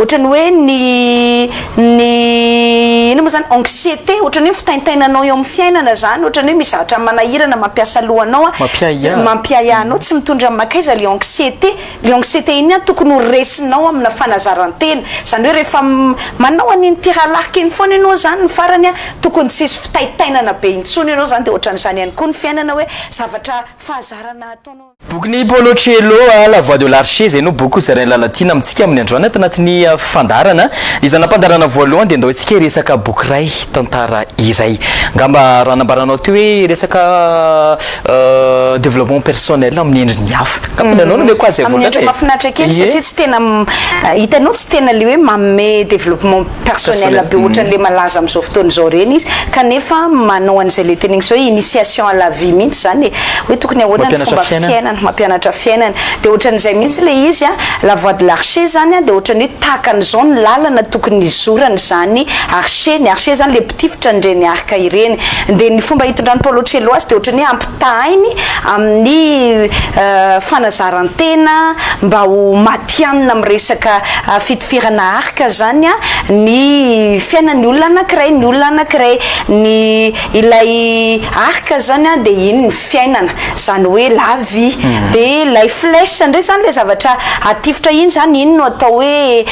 Ohatran'ny hoe ny ny inona moa zany anxiété ohatran'ny hoe fitaintainanao eo amin'ny fiainana zany ohatran'ny hoe misy zavatra manahirana mampiasa lohanao a, mampiahiahy anao, mampiahiahy anao tsy mitondra makaiza le anxiété, le anxiété iny ihany tokony ho resinao amina fanazarantena zany hoe rehefa manao an'iny tiralarika iny foana ianao zany ny farany a tokony tsy hisy fitaintainana be intsony ianao zany de ohatran'izany ihany koa ny fiainana hoe zavatra fahazarana ataonao. Bokin'i Paolo Coelho, La Voie de l'Arche, izay no boky hozarain'i Lalatiana amintsika amin'ny androany ato anatin'ny fandaharana. Ny zana-pandaharana voalohany dia andao isika hiresaka boky iray, tantara iray. Angamba raha nambaranao teo hoe resaka développement personnel amin'ny endriny hafa. Angamba ianao no omeko azy izay vokatra e. Amin'ny endriny mahafinaritra kely satria tsy tena, hitanao, tsy tena ilay hoe manome développement. personnel be ohatran'le malaza amin'izao fotoana izao ireny izy kanefa manao an'izay le teneniko zao hoe initiation à la vie mihitsy zany e! hoe tokony ahoana ny fomba fiainana, mampianatra fiainana dia ohatran'izay mihitsy le izy a! la voie de l'archer zany a! dia ohatran'ny hoe tahaka an'izao ny lalana tokony hizorany izany archer, ny archer zany le mpitifitra an'ireny arc ireny, dia ny fomba hitondran'i Paolo Coelho azy dia ohatran'ny hoe ampitahainy amin'ny fanazaran-tena mba ho matihanina amin'ny resaka fitifirana arc. Ka zany ny fiainan'ny olona anakiray, ny olona anakiray, ny ilay arc zany dia iny ny fiainana, zany hoe la vie, dia ilay flèche indray zany ilay zavatra atifitra iny zany, iny no atao hoe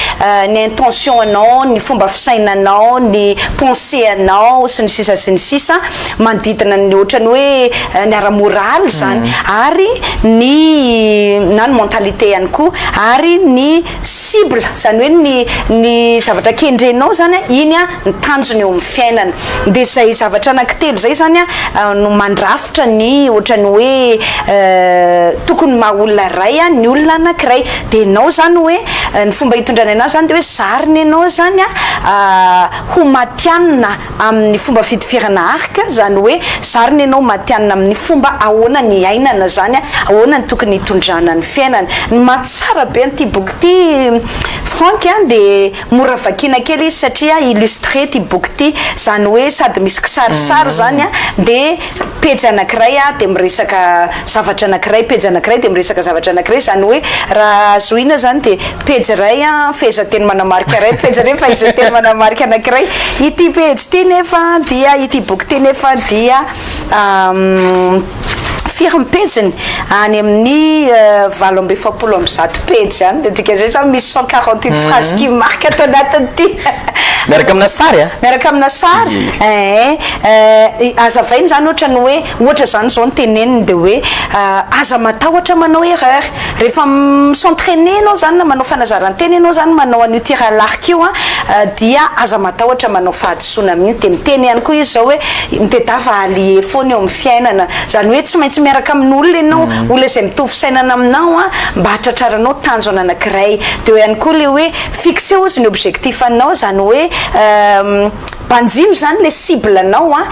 ny intention anao, ny fomba fisainanao, ny pensée anao sy ny sisa sy ny sisa manodidina ny ohatran'ny hoe ny ara moraly zany ary ny na ny mentalité ihany koa ary ny cible zany hoe ny ny zavatra kendrenao zany a iny a ny tanjony eo amin'ny fiainany de zay zavatra anakitelo zay zany a no mandrafitra ny ohatrany hoe tokony maha olona iray a ny olona anakiray de enao zany hoe ny fomba hitondrany anazy zany de hoe zarina enao zany a ho matianina amin'ny fomba fitiferana arika, izany hoe zarina ianao matihanina amin'ny fomba ahoana ny iainana izany, ahoana ny tokony hitondrana ny fiainana. Ny maha tsara be an'ity boky ity Franck a dia mora vakiana kely izy satria illustré ity boky ity, izany hoe sady misy kisarisary izany dia pejy anankiray dia miresaka zavatra anankiray, pejy anankiray dia miresaka zavatra anankiray, izany hoe raha zohina izany dia pejy iray fehezanteny manamarika iray, pejy iray fehezanteny manamarika anankiray, ity pejy ity nefa dia, ity boky ity nefa dia firy ny pejiny? any amin'ny valo amby efapolo amby zato pejy izany, dia dika izay izany misy cent quarante huit phrases qui marquent ato anatin'ity miaraka amina sary an! miaraka amina sary, eeh. Eh, azavaina izany ohatra ny hoe, ohatra izany izao ny teneniny dia hoe aza matahotra manao erreur, rehefa mi-s'entrainer ianao izany na manao fanazarantena ianao izany manao an'io tir à l'arc io an, dia aza matahotra manao fahadisoana mihitsy, dia miteny ihany koa izy izao hoe, mitedava allier foana eo amin'ny fiainana, izany hoe tsy maintsy miaraka amin'olona ianao, olona izay mitovy fisainana aminao an, mba hahatratraranao tanjona anankiray, dia eo ihany koa ilay hoe, fixer ozy ny objectif anao, izany hoe eh, Banjino zany le cible nao a,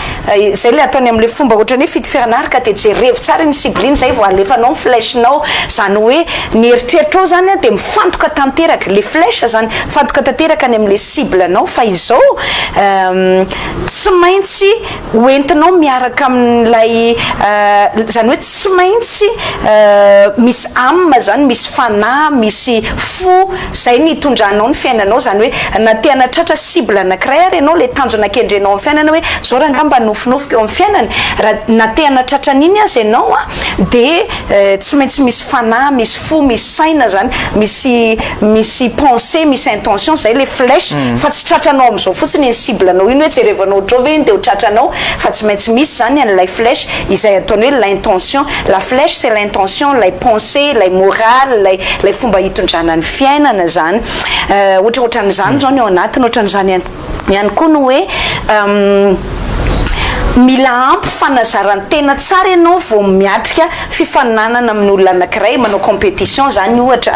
zay le ataony amle fomba ohatrany hoe fitifiana ary ka de jerevo tsara iny cible iny zay vo alefanao ny flèche nao, zany oe ny eritreritrao zany a de mifantoka tanteraka, le flèche zany mifantoka tanteraka any amle cible nao fa izao tsy maintsy ho entinao miaraka amin'ilay zany oe tsy maintsy misy âme zany, misy fanahy, misy fo, Izay no hitondranao ny fiainanao, izany hoe na te hanatratra cible anankiray ary ianao, ilay tanjona kendrenao amin'ny fiainana hoe izao raha angaha mba nofinofiko eo amin'ny fiainany, raha na te hanatratra an'iny aza ianao dia tsy maintsy misy fanahy, misy fo, misy saina izany, misy misy pensée, misy intention, izay ilay flèche fa tsy tratranao amin'izao fotsiny iny cible-nao iny hoe jerevanao ohatrao ve iny dia ho tratranao fa tsy maintsy misy izany an'ilay flèche. izay ataony hoe l'intention, la flèche c'est l'intention, ilay pensée, ilay morale, ilay ilay fomba hitondrana ny fiainana izany, ohatra ohatran'izany izao ny ao anatiny, ohatran'izany ihany ihany koa ny hoe mila ampy fanazaran-tena tsara ianao vao miatrika fifaninanana amin'ny olona anankiray, manao compétition izany ohatra,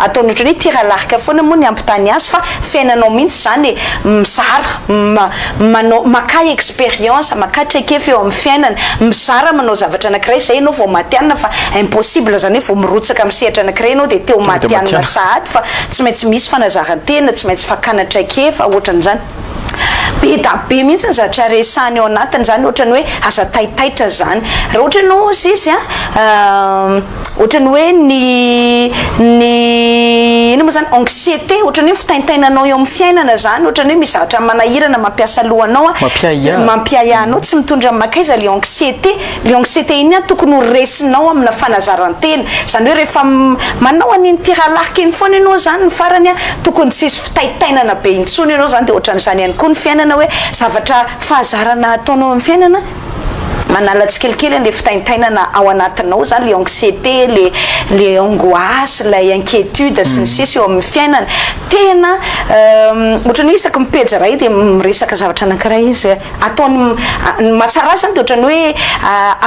ataony ohatran'ny hoe tir à l'arc foana moa ny hampitany azy fa fiainanao mihitsy izany e, mizara, manao, makà expérience, makà traikefa eo amin'ny fiainana, mizara manao zavatra anakiray zay ianao vao matihanina fa impossible zany hoe vao mirotsaka amin'ny sehatra anakiray ianao dia teo matihanina sahady fa tsy maintsy misy fanazarantena, tsy maintsy fakana traikefa, ohatran'izany. Be da be mihitsy ny zatra resahany ao anatiny zany ohatran'ny hoe aza taitaitra zany. Raha ohatra ianao hozy izy an. ohatrany hoe ny ny ino moa zany anxiété ohatrany hoe fitaintainanao eo amin'ny fiainana zany ohatrany hoe misy zavatra manahirana mampiasa lohanao a mampiahiahy anao tsy mitondra amin'ny makaiza le anxiété le anxiété iny a tokony ho resinao amina fanazarantena zany hoe rehefa manao an'iny tiralarika iny foana ianao zany ny farany a tokony tsy hisy fitaintainana be intsony ianao zany de ohatran'izany ihany koa ny fiainana hoe zavatra fahazarana ataonao amin'ny fiainana Manala tsikelikely an'ilay fitaintainana ao anatinao zany, ilay anxiété, ilay ilay angoisse, ilay inquiétude sy ny sisa eo amin'ny fiainany. Tena ohatran'ny hoe isaky ny pejy iray dia miresaka zavatra anankiray izy. Ataony, ny mahatsara azy zany dia ohatran'ny hoe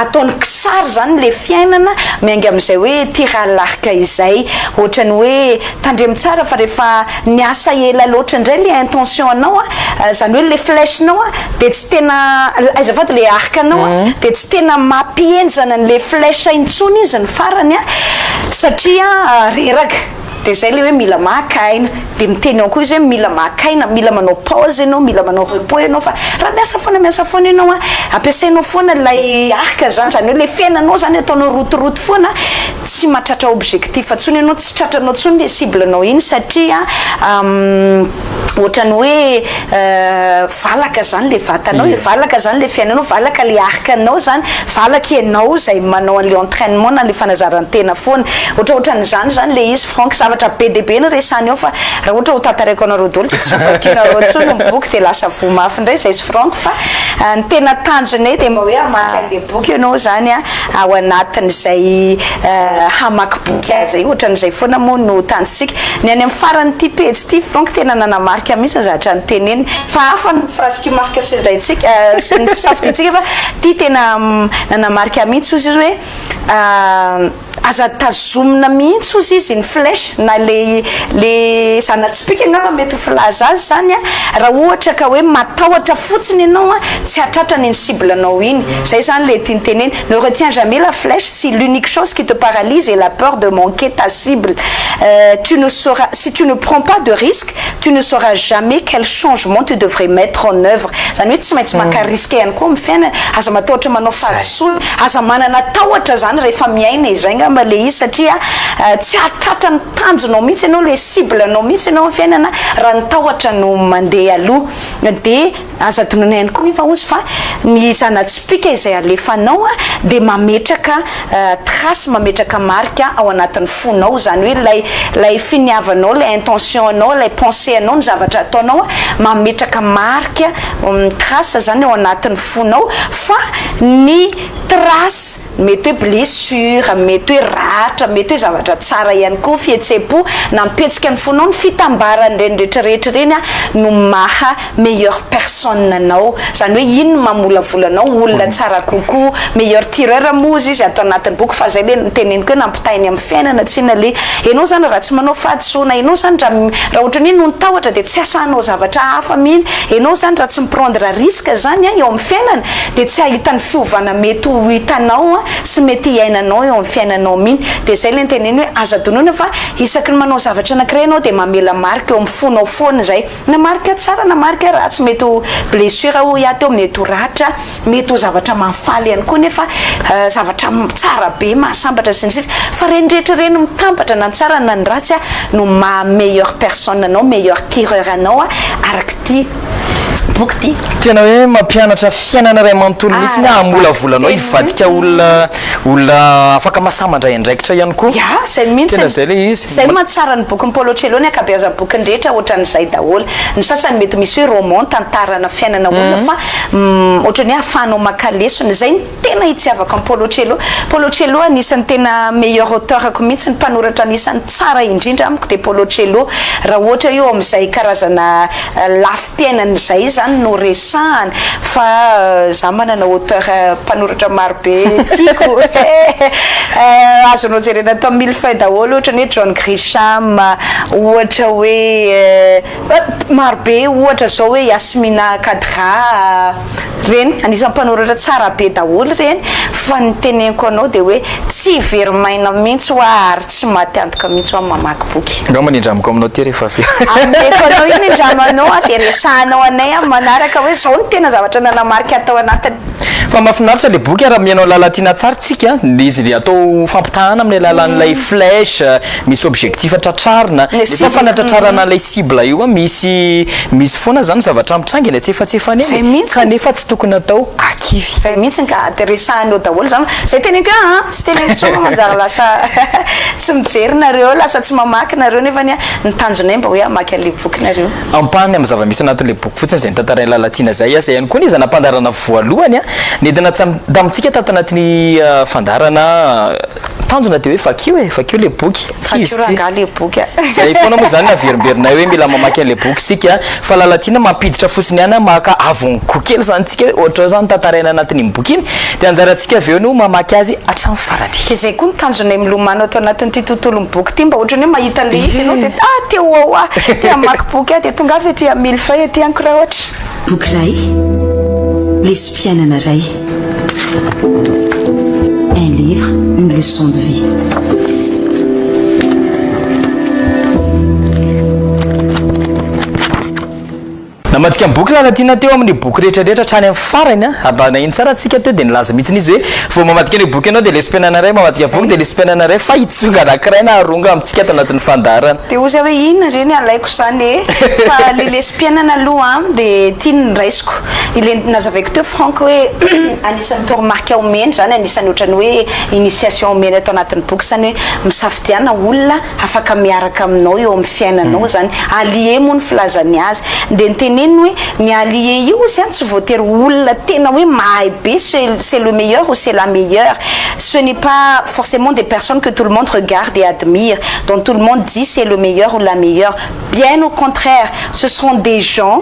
ataony kisary zany ilay fiainana, miainga amin'izay hoe tir à l'arc izay. Ohatran'ny hoe tandremo tsara fa rehefa. Niasa ela loatra indray le intention anao a, zany hoe le flèche nao a de tsy tena, azafady le arc nao a de tsy tena mampihenjana an'le flèche intsony izy ny farany a, satria reraka, de zay le hoe mila maka aina, de miteny ao koa izy hoe mila maka aina, mila manao pause enao, mila manao repos enao fa raha miasa foana miasa foana enao a, ampiasainao foana ilay arc zany, zany hoe le fiainanao zany ataonao rotoroto foana, tsy mahatratra objectif tsony ianao tsy tratranao tsony le cible nao iny satria ohatrany hoe valaka zany le vatanao e valaka zany le fiainanao valaka le arc nao zany valaka ianao zay manao anle entrainement na le fanazarantena foana ohatraohatran'izany zany le izy franck zavatra be de be no resany ao fa raha ohatra ho tantaraiko anareo doly de tsy ho vakinareo tsony ny boky de lasa voa mafy ndray zay sy franck fa ny tena tanjona eo de mba hoe hamaky anle boky ianao zany a ao anatin'izay hamaky boky aza io, ohatran'izay foana moa no tanjontsika. Ny any amin'ny faran'ity pejy ity Franck tena nanamarika mihitsy ny zavatra noteneniny, fa hafa ny phrase qui marque sy izay tsika sy ny fisafidiantsika fa ity tena nanamarika mihitsy hozy izy hoe aza tazomina mihitsy hozy izy ny flèche na le le zana-tsipìka angamba mety ho filaza azy izany raha ohatra ka hoe matahotra fotsiny ianao tsy hahatratra an'iny cible-nao iny. Zay zany le tiany tenena, ne retiens jamais la flèche si l'unique chose qui te paralyse est la peur de manquer ta cible euh tu ne sauras si tu ne prends pas de risque tu ne sauras jamais quel changement tu devrais mettre en oeuvre zany hoe tsy maintsy maka risque ihany koa am fiainana aza matahotra manao fahadisoana aza manana tahotra zany rehefa miaina e zay ngamba le izy satria tsy hahatratra ny tanjonao mihitsy ianao le cible nao mihitsy ianao am fiainana raha ny tahotra no mandeha aloha de Aza adinoina ihany koa nefa ozy fa ny zana-tsipìka izay alefanao dia mametraka trace, mametraka marika ao anatin'ny fonao, izany hoe ilay ilay finiavanao, ilay intention anao, ilay pensée anao, ny zavatra ataonao mametraka marika, trace, izany ao anatin'ny fonao fa ny trace Mety hoe blessure, mety hoe ratra, mety hoe zavatra tsara ihany koa, fihetsem-po nampihetsika ny fonao, ny fitambaran'ireny rehetra rehetra ireny no maha meilleure personne anao, izany hoe iny no mamolavola anao ho olona tsara kokoa, meilleur tireur moa ozy izy ato anatin'ny boky fa izay ilay noteneniko hoe nampitahainy amin'ny fiainana tsinona ilay ianao izany raha tsy manao fahadisoana, ianao izany raha raha ohatran'ny hoe noho ny tahotra dia tsy asa hanao zavatra hafa mihitsy, ianao izany raha tsy mi-prendre risque izany eo amin'ny fiainana dia tsy hahita ny fiovana mety ho hitanao sy mety hiainanao eo amin'ny fiainanao min, dia izay ilay niteneniny hoe aza adinoina fa isaky ny manao zavatra anankiray ianao dia mamela marika eo amin'ny fonao foana izay na marika tsara na marika ratsy, mety ho blessure hoy aho teo, mety ho ratra, mety ho zavatra mahafaly ihany koa nefa zavatra tsara be mahasambatra sy ny sisa fa ireny rehetra ireny mitambatra na ny tsara na ny ratsy no maha meilleur personne anao, meilleur tireur anao araka ity boky ity. Tena hoe mampianatra fiainana iray manontolo mihitsy ny hahamolavolanao hivadika olona olona afaka masaha mandray andraikitra ihany koa. Ya, izay mihitsy. Tena izay ilay izy. Izay no mahatsara ny bokin'i Paolo Coelho, ny ankabeazan'ny bokiny rehetra ohatran'izay daholo. Ny sasany mety misy hoe roman, tantarana fiainana olona fa ohatran'ny hoe ahafahanao maka lesona. Izay no. Tena itiavako an'i Paulo Coelho. Paulo Coelho anisan'ny tena meilleur auteur-ko mihitsy, ny mpanoratra anisan'ny tsara indrindra amiko dia Paulo Coelho, raha ohatra eo amin'izay karazana lafim-piainany izay izany no resahana, fa izaho manana auteur, mpanoratra maro be tiako azonao jerena atao mille feuilles daholo, ohatra ny hoe John Grisham, ohatra hoe maro be, ohatra izao hoe Yasmina Khadra. Reny, anisan'ny mpanoratra tsara be daholo reny, fa ny teneniko anao dia hoe tsy very maina mihintsy hoa ary tsy maty antoka mihintsy hoa ny mamaky boky. Angamba ny indramiko aminao ty rehefa avy eo. Ameko anao io ny indramanao an, dia resahanao anay amin'ny manaraka hoe zao ny tena zavatra nanamarika an tao anatiny. Fa mafinaritra le boky an, raha mihaino alalan'ity natsary tsika an, le izy le atao fampitahana amin'ny alalan'ilay flèche, Misy objectif tratrarina, nefa fanatratrarana ilay cible io misy misy foana izany zavatra mitranga eny an-tsefatsefany eny e, kanefa tsy tokony atao akivy. Izay mihitsy ka, dia resahiny eo daholo izany, izay teneniko eo an, tsy teneniko intsony fa manjary lasa tsy mijery nareo, lasa tsy mamaky nareo nefa anie ny tanjonay mba hoe hamaky an'ilay boky nareo. Ampahany amin'ny zava-misy anatin'ilay boky fotsiny izay notantarain'i Lalatiana izay, izay ihany koa anie izay nampandaharana voalohany nentina tamintsika tato anatin'ny fandaharana. Tanjona dia hoe vakio e, vakio le boky. Tsy izy ty. Vakio le boky a. Zay foana moa zany averimberinay hoe mila mamaky anle boky isika fa Lalatiana mampiditra fosiny ihany maka avongo kely zany tsika hoe ohatra zao zany tantaraina anatin'iny boky iny dia anjarantsika avy eo no mamaky azy hatramin'ny farany. Dia zay koa ny tanjonay milomano ato anatin'ity tontolon'ny boky ity mba ohatran'ny hoe mahita anle izy ianao dia ah te ho ao aho, te hamaky boky aho dia tongava ety amin'ny mille feuilles ety an-ko raha ohatra. Boky iray, lesom-piainana iray. Un livre, une leçon de vie. Namadika ny boky Lalatiana teo amin'ny boky rehetra rehetra hatrany amin'ny farany a. Ary raha naheno tsara tsika teo dia nilaza mihitsy izy hoe vao mamadika an'io boky ianao dia lesy mpianana iray mamadika boky dia lesy mpianana iray fa hitsonga anankiray na haronga amintsika ato anatin'ny fandaharana. Dia hoy za hoe inona re ny alaiko izany e? Fa ilay lesy mpiainana aloha dia ity no raisiko. Ilay nazavaiko teo Franck hoe anisan'ny toromarika omeny izany, anisan'ny ohatran'ny hoe initiation omeny ato anatin'ny boky izany hoe misafidiana olona afaka miaraka aminao eo amin'ny fiainanao izany. Allié moa ny filazany azy. Dia ny teneniny hoe ny allié io hozy an tsy voatery ho olona tena hoe mahay be ce c'est le meilleur ou c'est la meilleure. Ce n'est pas forcément des personnes que tout le monde regarde et admire, dont tout le monde dit c'est le meilleur ou la meilleure. Bien au contraire, ce seront des gens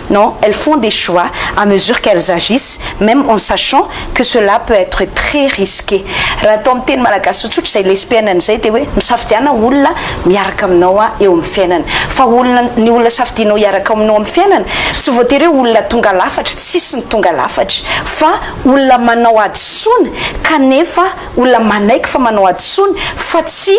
Non, elles font des choix à mesure qu'elles agissent, même en sachant que cela peut être très risqué. Raha atao amin'ny teny malagasy tsotsotra izay lesbiennes izay dia hoe misafidiana olona miaraka aminao aho eo amin'ny fiainana. Fa olona, ny olona safidianao hiaraka aminao amin'ny fiainana, tsy voatery hoe olona tonga lafatra, tsy hisy ny tonga lafatra, fa olona manao hadisoana kanefa olona manaiky fa manao hadisoana fa tsy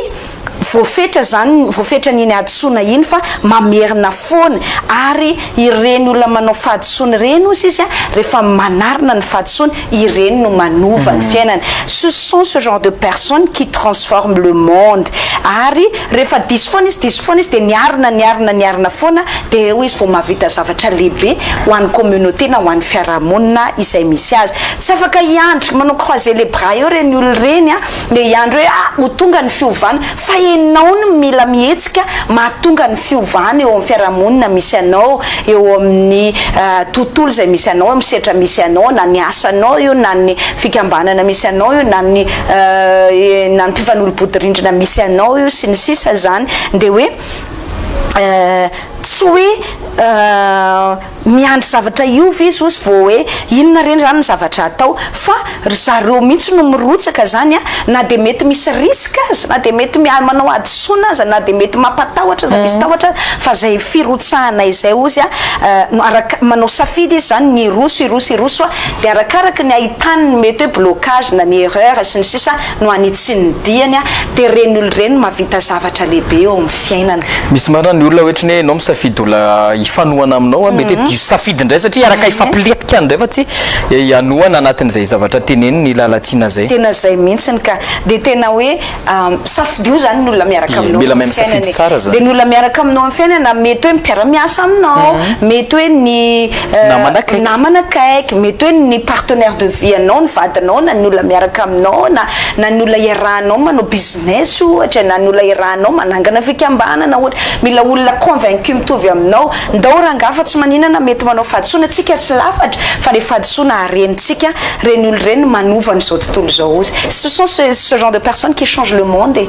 Voafetra izany, voafetran' iny hadisoana iny fa mamerina foana ary ireny olona manao fahadisoana ireny hozy izy an, rehefa manarina ny fahadisoany, ireny no manova ny fiainany. Ce sont ce genre de personnes qui transforment le monde. Ary rehefa diso foana izy, diso foana izy, dia niarina, niarina, niarina foana, dia eo izy vao mahavita zavatra lehibe ho an'ny communauté na ho an'ny fiarahamonina izay misy azy. Tsy afaka hiandry manao croiser les bras eo ireny olona ireny an. Ndeha hiandry hoe ah ho tonga ny fiovana fa enao no mila mihetsika mahatonga ny fiovana eo amin'ny fiarahamonina misy anao, eo amin'ny tontolo izay misy anao, amin'ny setra misy anao, na ny asanao io, na ny fikambanana misy anao io, na ny na ny mpifanolo-bodirindrina misy anao io sy ny sisa izany dia hoe tsy hoe Miandry zavatra hiova izy ozy vao hoe inona re zany ny zavatra atao fa ry zareo mihitsy no mirotsaka zany a, na dia mety misy risque aza, na dia mety manao hadisoana aza, na dia mety mampatahotra aza, misy tahotra aza, fa zay firotsahana izay ozy a, araka, manao safidy izy zany ny hiroso, hiroso, hiroso a, dia arakaraka ny ahitany ny mety hoe blocage na ny erreur sy ny sisa, no hanitsian'ny diany a, dia ireny olona ireny no mahavita zavatra lehibe eo amin'ny fiainana. Misy marina ny olona ohatry ny hoe ianao misafidy olona hifanohana aminao a, mety hoe diso safidy indray satria iaraka hifampilentika indray fa tsy hanohana anatin'izay zavatra teneniny i Lalatiana izay. Tena izay mihitsiny ka, dia tena hoe safidio izany ny olona miaraka aminao eo amin'ny fiainana e, dia ny olona miaraka aminao amin'ny fiainana mety hoe mpiara-miasa aminao, mety hoe ny. namana akaiky namana akaiky mety hoe ny partenaire de vie anao ny vadinao na ny olona miaraka aminao na na ny olona iarahanao manao business ohatra na ny olona iarahanao manangana fikambanana ohatra mila olona convaincu mitovy aminao ndao rangah fa tsy maninana mety manao fahadisoana tsika tsy lafatra fa le fahadisoana harenitsika reny olona reny manova an'izao tontolo izao ozy ce sont ce genre de personnes qui changent le monde e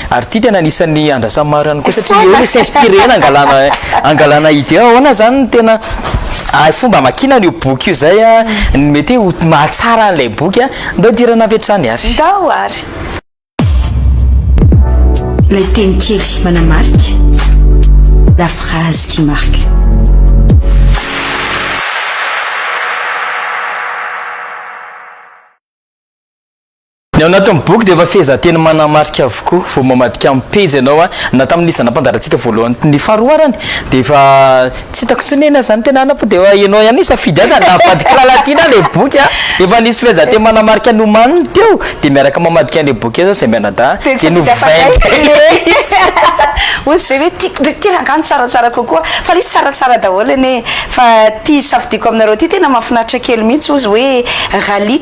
Ary ity tena anisan'ny andrasan'ny maro ihany koa satria eo no s'inspirer-na angalana angalana idée. Ahoana izany no tena fomba hamakiana an'io boky io izay no mety hoe ho mahatsara an'ilay boky? Ndao idirana avy hatrany ary. Ndao ary. Ilay teny kely manamarika, la phrase qui marque. Ny ao anatin'ny boky dia efa fehezanteny manamarika avokoa. Vao mamadika amin'ny pejy ianao, na tamin'ny isan'ny nampandaratsika voalohany ny faharoa arany, dia efa tsy hitako intsony anie na izany tena na fa dia efa ianao ihany no hisafidy azy na avadika lalatiana ary ilay boky an! Efa nisy fehezanteny manamarika ny omaniny teo, dia miaraka mamadika an'ilay boky indray izao izay mianadahy, Dia dia nisafidy hafa indray novainy indray ilay izy. Hoy izay hoe, ty, ity rangahy no tsaratsara kokoa, fa ilay izy tsaratsara daholo anie e! Fa ity safidiako aminareo ity tena mahafinaritra kely mihitsy, hoy izy hoe, Rally.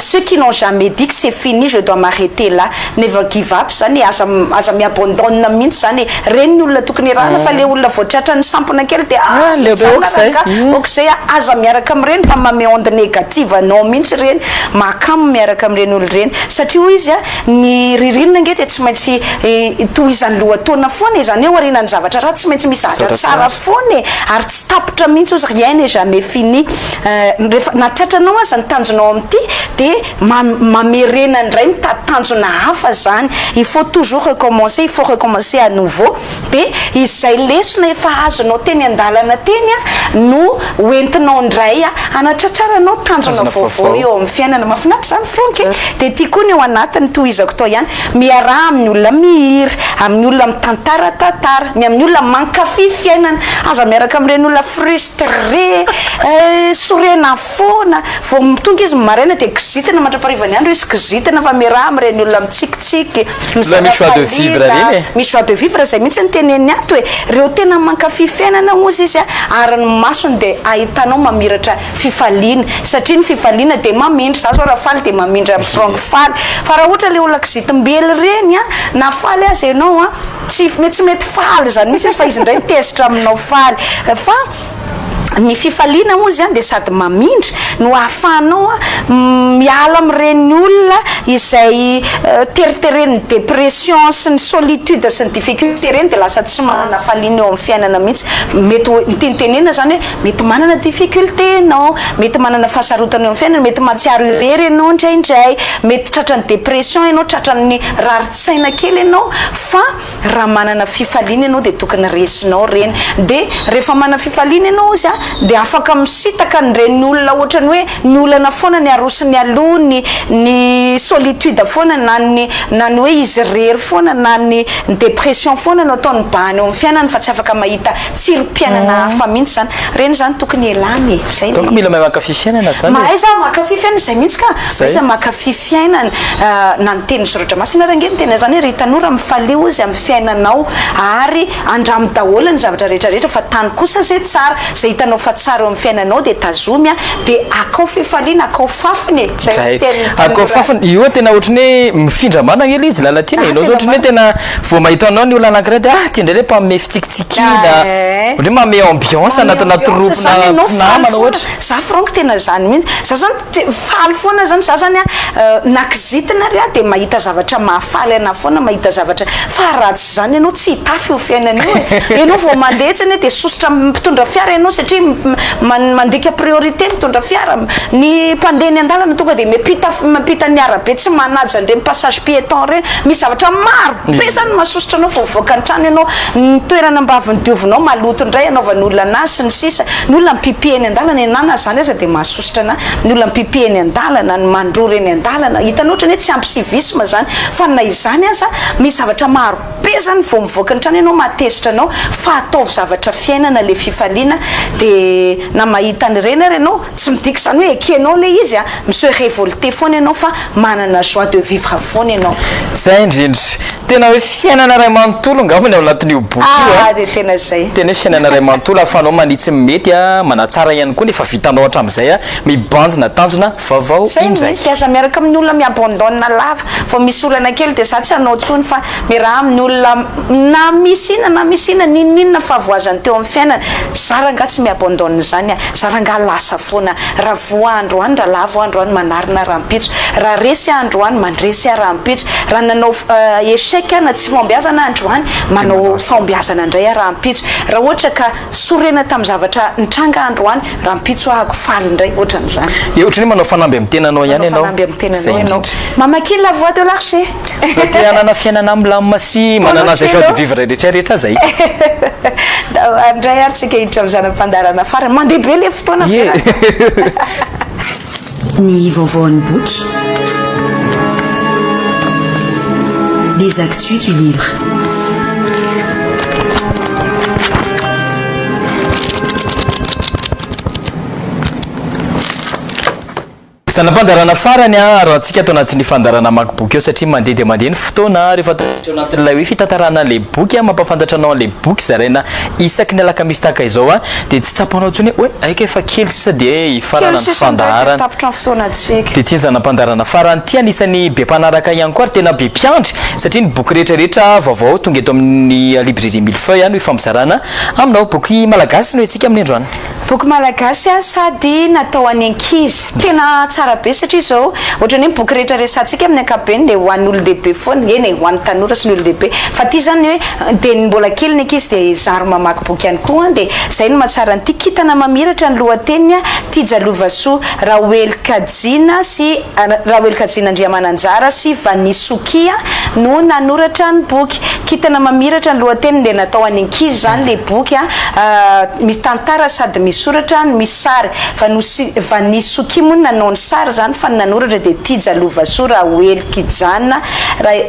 ceux qui n'ont jamais dit que c'est fini je dois m'arreter là never give up zany e aza aza mi-abandonne mihitsy zany e reny ny olona tokony irahana fa le olona vao tratra ny sampona kely dia ah le tsy anona zany ka ok'izay a aza miaraka amin'ireny fa mame onde negative anao mihitsy ireny mahakamo miaraka amin'ireny olona ireny satria hoy izy a ny ririnina ange dia tsy maintsy tohizan'ny lohataona foana e zany hoe aorianan'ny zavatra ratsy tsy maintsy misy zavatra tsara foana e ary tsy tapitra mihitsy hozy rien n'est jamais fini Eh, rehefa na tratranao aza ny tanjonao amin'ity dia ma mamerena indray mitady tanjona hafa izany, il faut toujours recommencer, il faut recommencer à nouveau, dia izay lesona efa azonao teny an-dalana teny a no ho entinao indray a hanatratraranao tanjona Tanjona vaovao vaovao. eo amin'ny fiainana. Mahafinaritra izany Franck e! Tsara. Dia ity koa ny ao anatiny tohizako tao ihany, miaraha amin'ny olona mihira, amin'ny olona mitantara tantara, ny amin'ny olona mankafy fiainana, aza miaraka amin'ireny olona frus. Très! Sorena foana, vao mitongy izy ny maraina dia kizitina mandrapaharivan'ny andro izy, kizitina fa miaraha amin'ireny olona mitsikitsiky, Ilay misy joie de vivre mizara fahaliana, iny e. misy joie de vivre izay mihitsy no teneniny ato e! Ireo tena mankafy fiainana hozy izy ary ny masony dia ahitanao mamiratra fifaliana satria ny fifaliana dia mamindra, za zao raha faly dia mamindra ny fronko faly, fa raha ohatra ilay olona kizitim-bely ireny na faly aza ianao an, Tsy mety tsy mety faly zany mihitsy izy fa izy indray tezitra aminao faly fa ny fifaliana moa zany dia sady mamindra no ahafahanao miala amin'ireny olona izay teriteren'ny dépression sy ny solitude sy ny difficulté ireny dia lasa tsy manana faliana eo amin'ny fiainana mihitsy mety ho ny tiany tenenina zany hoe Mety manana difficulté ianao, mety manana fahasarotana eo amin'ny fiainana, mety mahatsiaro irery ianao indraindray, mety tratran'ny dépression ianao, tratran'ny rarin-tsaina kely ianao fa raha manana fifaliana ianao dia tokony resinao ireny dia rehefa manana fifaliana ianao hozy a dia afaka misitaka an'ireny olona ohatrany hoe ny olana foana ny arosony aloha ny ny solitude foana na ny na ny hoe izy irery foana na ny dépression foana no ataony bahana eo amin'ny fiainany fa tsy afaka mahita tsirom-piainana hafa mihitsy zany. Reny zany tokony ialana e. Zay Donc mila mahay mankafy fiainana zany e. Mahay za mankafy fiainana zay mihitsy ka. Mahay za mankafy fiainana na ny tenin'ny soratra masina ary ange miteny an'zany hoe ry tanora mifalio izy amin'ny fiainanao ary andramo daholo ny zavatra rehetra rehetra fa tano kosa zay tsara. Zay hitanao fa tsara eo amin'ny fiainanao dia tazomy a dia akao fifaliana akao fafiny e. Zay no tenin'ny tanora. Akao fafiny. Io tena ohatran'ny hoe mifindra manana ange le izy Lalatiana e. Enao zao ohatran'ny hoe tena Vao mahita anao ny olona anankiray dia ah ty indray ilay mpanome fitsikitsikiana, ohatran'ny hoe manome ambiance anatina troupe-na mpinamana ohatra. Za franck tena zany mihitsy, za zany faly foana zany, za zany an na kizitina ary aho dia mahita zavatra mahafaly anah foana mahita zavatra, fa raha tsy zany ianao tsy hitafy io fiainana io e, ianao vao mandeha etsy anie dia sosotra amin'ny mpitondra fiara ianao satria mandika priorité mitondra fiara, ny mpandeha eny an-dalana tonga dia miampita miampita ny arabe tsy manaja an'ireny passage piéton ireny, Misy zavatra maro be zany masosotra anao fa mivoaka ny trano ianao, ny toerana ambaviny diovinao maloto indray anaovany olona anazy sy ny sisa, ny olona mipipi eny an-dalana e na na zany aza dia mahasosotra anah, ny olona mipipi eny an-dalana, ny mandrora eny an-dalana, hitanao otrany hoe tsy ampy civisme zany fa na izany aza misy zavatra maro be zany vao mivoaka ny trano ianao mahatezitra anao fa ataovy zavatra fiainana le fifaliana dia na mahita an'ireny ary ianao Tsy midika izany hoe ekenao ilay izy an! Miseho révolté foana ianao fa manana joie de vivre foana ianao. Zay indrindra. Tena hoe fiainana iray manontolo angamba ny ao anatin'io boky io an! Ah dia tena izay. Tena hoe fiainana iray manontolo ahafahanao manitsy ny mety an, manatsara ihany koa ny efa vitanao hatramin'izay an, mibanjina tanjona vaovao indray. Zay ny mety, aza miaraka amin'ny olona mi-abandonne lava. Vao misy olana kely dia za tsy hanao intsony fa miaraha amin'ny olona na misy inona na misy inona, n'inon'inona fahavoazany teo amin'ny fiainany. Za rangah tsy mi-abandonne izany an! Za rangah lasa foana an! Raha voa andro any, raha lavo andro any, manarina rahampitso. Raha resy aho andro any, mandresy aho rahampitso. Raha nanao échec aho na tsy fahombiazana aho andro any, manao fahombiazana indray aho rahampitso. Raha ohatra ka. Sorena tamin'ny zavatra nitranga androany rahampitso ahako faly indray otran'izany. Dia ohatran'ny hoe manao fanamby amin'ny tenanao ihany ianao. Manao fanamby amin'ny tenanao ianao. Mamakia La Voix de l'Arche. Raha te hanana fiainana milamina sy manana izay joie de vivre rehetra rehetra izay. Tavaharo indray ary tsika hiditra amin'ny zana-pandaharana farany. Mandeha be ilay fotoana Ferrara. Ny vaovaon'ny boky Les actus du livre Zana-pandaharana farany aro antsika ato anatin'ny fandaharana hamaky boky eo satria mandeha dia mandeha ny fotoana rehefa tafiditra ao anatin'ilay hoe fitantarana an'ilay boky, mampahafantatra anao an'ilay boky zaraina Isaky ny alakamisy tahaka izao a, dia tsy tsapanao intsony hoe hoe aika efa kely sisa dia hifarana Kely ny sisa indray dia fandaharana. tapitra ny fotoanantsika. Dia tian'ny zana-pandaharana farany ity anisan'ny be mpanaraka ihany koa ary tena be mpiandry satria ny boky rehetra rehetra vaovao tonga eto amin'ny librairie mille feuilles no ifampizarana aminao. Boky malagasy no entsika amin'ny androany. Boky malagasy a, sady natao any ankizy, tena tsara be satria zao ohatrany hoe boky rehetra resatsika amin'ny ankapobeny dia ho an'olondehibe foana, eny e ho an'ny tanora sy ny olondehibe, fa ity zany hoe dia ny mbola kely ny ankizy dia zary mamaky boky ihany koa, dia zay no mahatsara an'ity kintana mamiratra ny lohateniny a, Tija Lovasoa, Raoely Kajiana sy Raoely Kajiana Andriamananjara sy Vanisokia no nanoratra ny boky. Kintana mamiratra ny lohateniny dia natao any ankizy zany le boky a, misy tantara sady misy soratra no misy sary, Vanosy Vanisoky moa no nanao ny sary zany fa ny nanoratra dia Tija Lovasoa Rahoelikijana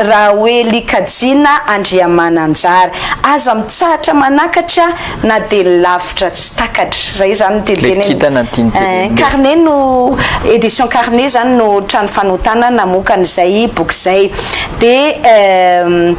Rahoelikajina Andriamananjara. Aza mitsahatra manakatra. na dia ny lavitra tsy takatra. Izay izany no tiany tenenina. Le kintana no tiany tenenina. Ein, Carnet no, Editions Carnet izany no trano fanotana namokany izay boky izay. Dia ehm,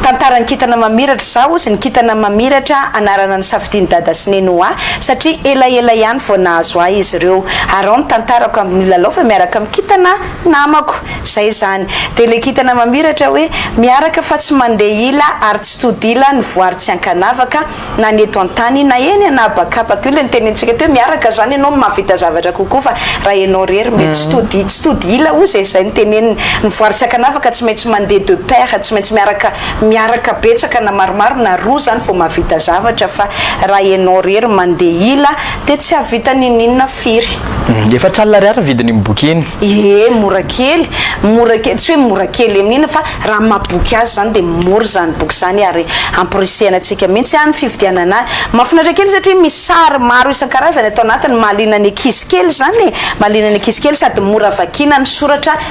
tantaran'ny kintana mamiratra, izaho hozy ny kintana mamiratra anarana nisafidian'i Dada sy Neny ho ahy satria elaela ihany vao nahazo ahy izy ireo. Arao ny tantarako amin'ny milalao fa miaraka amin'ny kintana. Namako, zay izany. Dia le kintana mamiratra hoe, miaraka fa tsy mandeha ila ary tsy tody ila ny voary tsy ankanavaka, na ny eto an-tany na eny an'habakabaka. Io le nitenenintsika teo, miaraka izany ianao no mahavita zavatra kokoa fa raha ianao irery mety tsy tody, tsy tody ila hoy izay, zay no teneniny. Ny voary tsy ankanavaka tsy maintsy mandeha de paire, tsy maintsy miaraka, miaraka betsaka na maromaro na roa izany vao mahavita zavatra fa raha ianao irery mandeha ila dia tsy hahavita ninoninona. Firy? Efatra alina ariary ny vidiny iny boky iny. Ee, mora kely, mora kely, tsy hoe mora kely amin'ny inona fa raha amin'ny maha boky azy izany dia mora izany boky izany ary amporisihana antsika mihitsy ny fividianana azy. Mahafinaritra kely izy satria misy sary maro isan-karazany ato anatiny, mahaliana ny ankizy kely izany e, mahaliana ny ankizy kely sady mora vakiana ny soratra.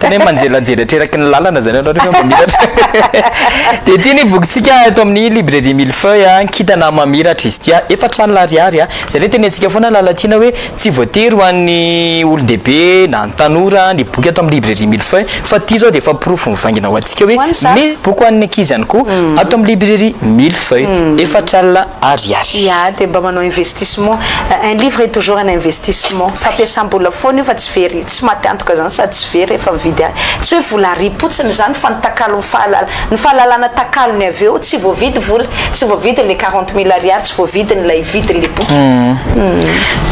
Tena hoe manjelajely atreraky ny lalana zany ianao rehefa mamiratra. Dia ity ny bokintsika eto amin'ny librairie mille feuilles an, kintana mamiratra izy ity an, efatra alina ariary an. Izay ilay tenentsika foana Lalatiana hoe tsy voatery ho an'ny olon-dehibe na ny tanora ny boky ato amin'ny librairie mille feuilles fa ity izao dia efa porofo mivaingana ho antsika hoe misy boky ho an'ny ankizy ihany koa ato amin'ny librairie mille feuilles efatra alina ariary. Ia, dia mba manao investissement. Un livre est toujours un investissement. Fampiasam-bola foana io fa tsy very. Tsy maty antoka zany sady tsy very rehefa mividy ahy. Tsy hoe vola ary potsiny zany fa ny takalon'ny fahalala, ny fahalalana takalony avy eo. Tsy voavidy vola, tsy voavidy le quarante mille ariary, tsy voavidy ny lay vidiny le boky.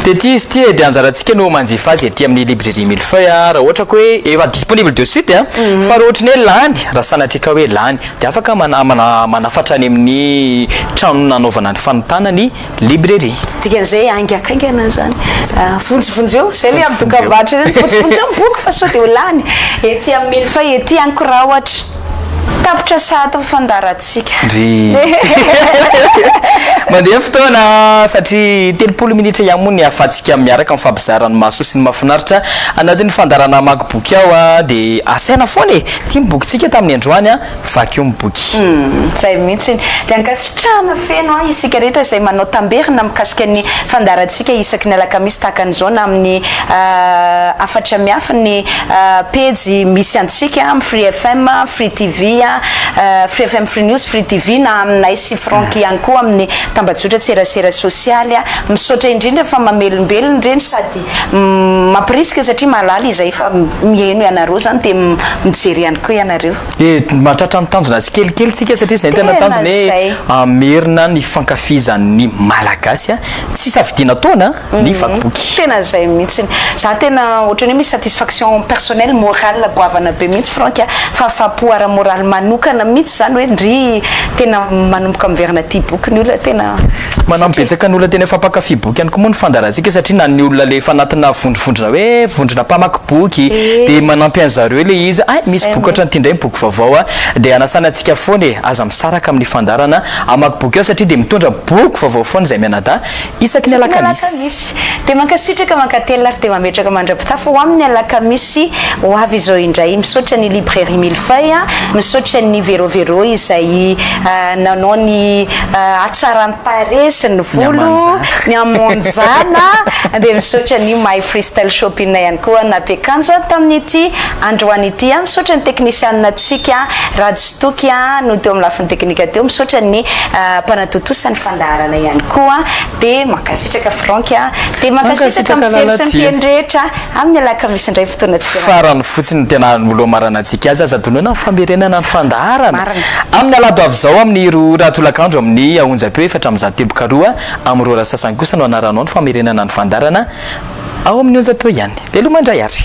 Dia ty izy ty e, dia anjarantsika no manjifa azy ety amin'ny librairie mille-feuille a, raha ohatra ka hoe efa disponible de suite a, fa raha ohatra ny hoe lany, raha sanatria ka hoe lany, dia afaka mana- mana- manafatra any amin'ny trano nanaovana ny fanontana ny. Librairie. Dikan'izay aingakaingana izany. Vonjivonjeo, izay ilay amin'ny dokambarotra ireny, vonjivonjeo ny boky fa sao dia ho lany ety amin'ny mille feuilles ety any koa raha ohatra. Tapitra sahady ny fandaharantsika. Ndry. Mandeha ny fotoana satria telopolo minitra ihany moa ny ahafahantsika miaraka mifampizara ny mahasoa sy ny mahafinaritra anatin'ny fandaharana hamaky boky ao dia asaina foana e! Ity ny bokintsika tamin'ny androany Vakio ny boky. Izay mihitsy. Dia ankasitrahana feno ahy isika rehetra izay manao tamberina mikasika ny fandaharantsika isaky ny alakamisy tahaka an'izao na amin'ny hafatra miafy ny pejy misy antsika amin'ny Free FM, Free TV, Free FM Free News, Free TV na aminay sy Franck ihany koa amin'ny tambajotra tserasera sosialy. Misaotra indrindra fa mamelombelona ireny sady mampirisika satria mahalala izahay fa mihaino ianareo izany dia mijery ihany koa ianareo. Dia mahatratra ny tanjona tsikelikely tsika satria izay ny tena tanjona hoe hamerina ny fankafizan'ny Malagasy tsy safidiana taona ny vaky boky. Tena izay mihitsy. Za tena ohatran'ny hoe misy satisfaction personnelle, morale goavana be mihitsy Franck a. Fahafaham-po ara-moraly manokana mihitsy izany hoe ndryy tena manomboka miverina tia boky ny olona tena. Manampy betsaka ny olona tena efa mpankafy boky ihany koa moa ny fandaharantsika satria na ny olona ilay efa anatina vondrovondrona hoe vondrona mpamaky boky dia manampy an'zareo ilay izy hoe hay misy boky ohatran'ity indray ny boky vaovao a! dia hanasana antsika foana e! aza misaraka amin'ny fandaharana hamaky boky ao satria dia mitondra boky vaovao foana izay mianadahy isaky ny alakamisy. Dia mankasitraka mankatelina ary dia mametraka mandra-pitafa ho amin'ny alakamisy ho avy izao indray. Misaotra ny librairie mille feuilles, misaotra ny Vero Vero izay nanao ny Hatsaran'ny tarehy sy ny volo, ny hamonjana. Dia misaotra an'io My Freestyle Shop inona ihany koa nampiakanjo ahy tamin'ity androany ity. Misaotra ny teknisianinantsika Rajotoky no teo amin'ny lafiny teknika teo. Misaotra ny mpanatontosa ny fandaharana ihany koa. Dia mankasitraka Franck a. Dia mankasitraka amin'ny jery sy ny mpihaino rehetra. amin'ny alakamisy indray ny fotoanantsika. Farany fotsiny ny tena anolomarana antsika azy, aza donana ny famerenana ny fandaharana. Marina. Amin'ny alahady ho avy izao amin'ny roa ora tolakandro amin'ny onjam-peo efatra amby zato teboka roa amin'ny roa ora sasany kosa no hanaranao ny famerenana ny fandaharana ao amin'ny onjam-peo ihany. Veloma indray ary.